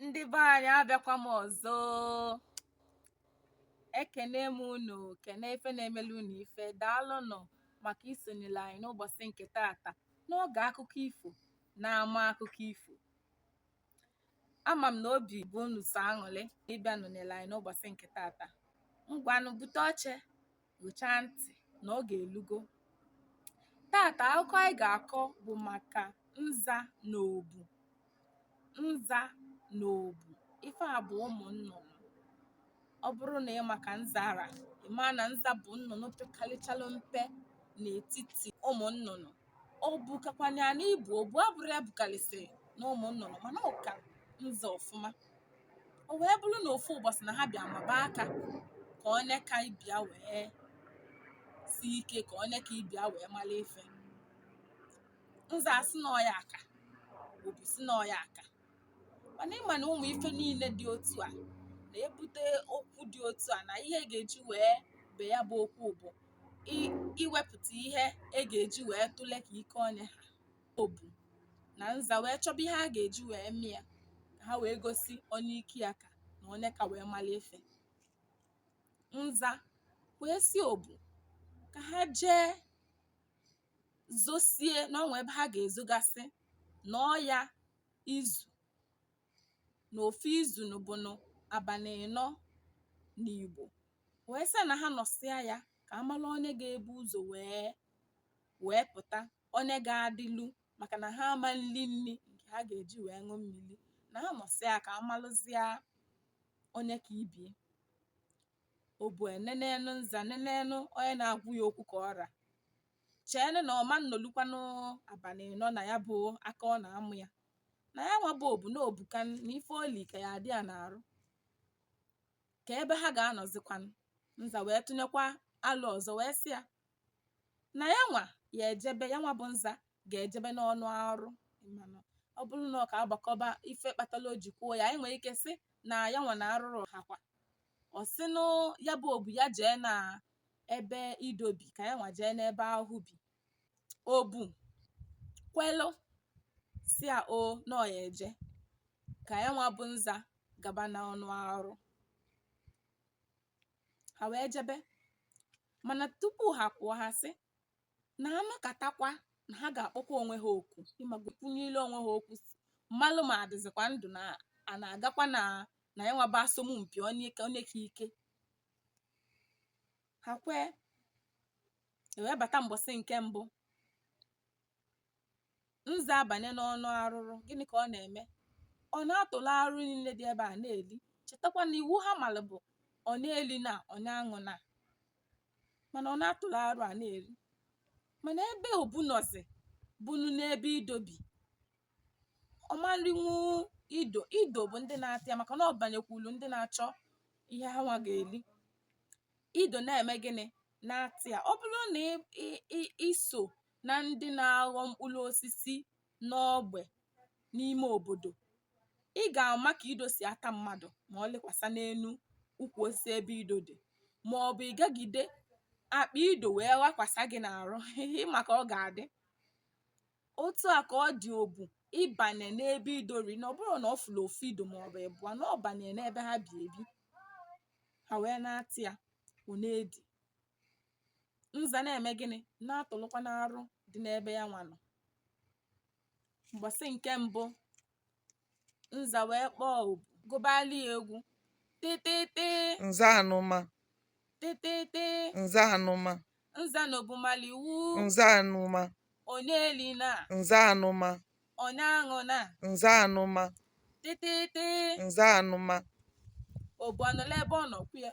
ndị be anyị abịakwa m ọzọ ekene m unu kene ife na-emelu unu ife daalụnụ maka isonyelu anyị n'ụbọsị nke taata n'oge akụkọ ifo n'ama akụkọ ifo ama m na obi bụ unu sọ aṅụlị ịbịa nọnyelụ anyị n'ụbọsị nke taata ngwanụ bute oche gụchaa ntị na oge elugo taata akụkọ anyị ga-akọ bụ maka nza na obu nza na obu ife a bụ ụmụ nnụnụ ọ bụrụ na ị ma ka nza ra ị maa na nza bụ nnụnụ pekalịchalụ mpe n'etiti ụmụ nnụnụ obu kakwanụ ya n'ibu obu abụrọ ya bukalịsị na ụmụ nnụnụ mana ọ ka nza ọfụma o wee bụrụ na ofu ụbọsị na ha bịa maba aka ka onye ka ibe ya wee sie ike ka onye ka ibe ya wee malụ ife nza asị na ọ ya aka obu sị na ọ ya aka mana ị ma na ụmụ ife niile dị otu a na-ebute okwu dị otu a na ihe e ga-eji wee be ya bụ okwu bụ iwepụta ihe e ga-eji wee tụle ka ike onye ha obu na nza wee chọba ihe a ga-eji wee mee ya ka ha wee gosi onye ike ya ka na onye ka wee malụ ife nza wee sị obu ka ha jee zosie na o nwee ebe ha ga-ezogasị na ọ ya izu na ofu izu nụ bụ nụ abanị ịnọ n'Igbo wee sị na ha nọsịa ya ka a malụ onye ga-ebu ụzọ wee pụta onye ga-adịlu maka na ha ama eli nni nke ha ga-eji wee ṅụ mmiri na ha nọsịa ka a malụzịa onye ka ibie obu enenenụ nza nenenụ onye na-agwa ya okwu ka ọ ra cheenụ na ọ ma nnọlukwanụ abanị nọ na ya bụ aka ọ na-ama ya na ya nwa bụ obu na o buka na ife o li ka ya adị ya n'arụ ka ebe ha ga-anọzikwanụ nza wee tụnyekwa alo ọzọ wee sị ya na ya nwa ya ejebe ya nwa bụ nza ga-ejebe n'ọnụ arụ ọ bụrụ na ọ ka agbakọba ife kpatalụ o ji kwuo ya anyị nwere ike sị na ya nwa na arụrụ ha kwa ọ sị na ya bụ obu ya jee na ebe ido bi ka ya nwa jee n'ebe ahụ bi obu kwelụ sị ya o na ọ ya eje ka ya nwa bụ nza gaba na ọnụ arụ ha wee jebe mana tupu ha kwuo ha sị na ha nọkatakwa na ha ga-akpọkwa onwe ha oku ịmakwunyere onwe ha okwu mmalụ ma a dịzikwa ndụ na a na-agakwa na na ya nwa bụ asọmpi onye ka onye ka ike ha kwee e wee bata mgbọsị nke mbụ nza abanye n'ọnụ arụrụ gịnị ka ọ na-eme ọ na-atụlụ arụ niile dị ebe a na-eli chetakwa na iwu ha malụ bụ onye elina onye aṅụna mana ọ na-atụlụ arụ a na-eli mana ebe obu nọzi bụnụ n'ebe ido bi ọ marinwu ido ido bụ ndị na-ata ya maka na ọ banyekwulu ndị na-achọ ihe ha nwa ga-eli ido na-eme gịnị na-ata ya ọ bụrụ na ị- ị- ị- i so na ndị na-aghọ mkpụrụ osisi n'ogbe n'ime obodo ị ga-ama ka ido si ata mmadụ ma ọ lịkwasa n'enu ukwu osisi ebe ido dị ma ọ bụ ị gagide akpa ido wee ghakwasa gị n'arụ ị ma ka ọ ga-adị otu a ka ọ dị obu ịbanye n'ebe ido rị na ọ bụrọ na ọ fụrụ ofu ido ma ọ bụ ịbụọ na ọ banye n'ebe ha bi ebi ha wee na-ata ya ọ na-edi nza na-eme gịnị na-atụlụkwanụ arụ dị n'ebe ya nwa nọ mgbọsị nke mbụ nza wee kpọọ obu gụbalụ ya egwu tịtịtị nza anụma tịtịtị nza anụma nza na obu malụ iwu nza anụma onye elina nza anụma onye aṅụna nza anụma tịtịtị nza anụma obu anọla ebe ọ nọkwu ya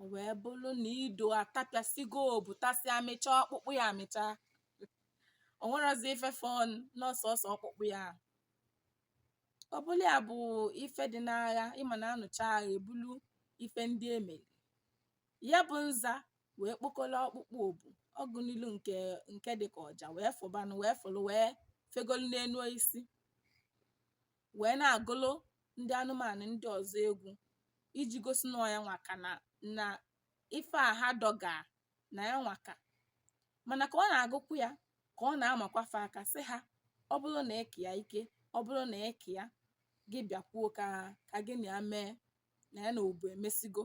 O wee bụrụ na ido atapịasịgo obu tasịa mịcha ọkpụkpụ ya amịcha. O nwerozi ife fọ na ọ sọsọ ọkpụkpụ ya. O bulu ya bụ ife dị n'agha ị ma na a nụchaa agha e bulu ife ndị e meli. Ya bụ nza wee kpokọrọ ọkpụkpụ obu ọgụ n'ilu nke nke dị ka ọja wee fụbanụ wee fụlụ wee fegolu n'enu osisi. wee na-agụlụ ndị anụmanụ ndị ọzọ egwu iji gosi na ọ ya nwa ka na na ife a ha dọga na ya nwa ka mana ka ọ na-agụkwu ya ka ọ na-amakwa fa aka sị ha ọ bụrụ na ị ka ya ike ọ bụrụ na ị ka ya gị bịakwuo ka ka gị na ya mee na ya na obu emesịgo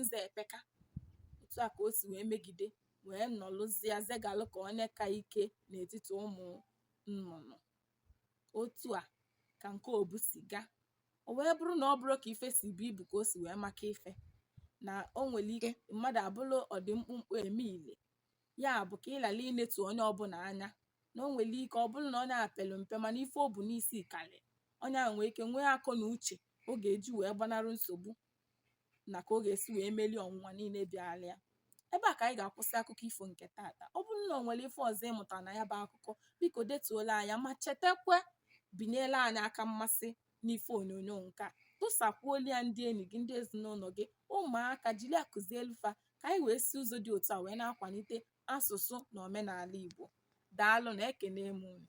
nza epeka otu a ka o si wee megide wee nọlụzie zegalụ ka onye ka ike n'etiti ụmụ nnụnụ otu a ka nke obu si gaa o wee bụrụ na ọ bụrọ ka ife si bu ibu ka o si wee maka ife na o nwere ike mmadụ abụrụ ọdị mkpụmkpụ eme ile ya bụ ka ị ghara inetu onye ọbụna anya na o nwere ike ọ bụrụ na onye a pelu mpe mana ife o bu n'isi kalị onye a nwee ike nwee akọ na uche ọ ga-eji wee gbanarị nsogbu na ka ọ ga-esi wee melie ọnwụnwa niile bịalụ ya ebe a ka anyị ga-akwụsị akụkọ ifo nke taata ọ bụrụ na o nwere ife ọzọ ị mụta na ya bụ akụkọ biko detuolu anyị ya ma chetakwa binyelu anyị aka mmasị n'ife onyonyo nke a tụsakwuolu ya ndị enyi gị ndị ezinụnọ gị ụmụaka jiri ya kụzielu fa ka anyị wee si ụzọ dị otu a wee na-akwanite asụsụ na omenala igbo daalụ na ekene m unu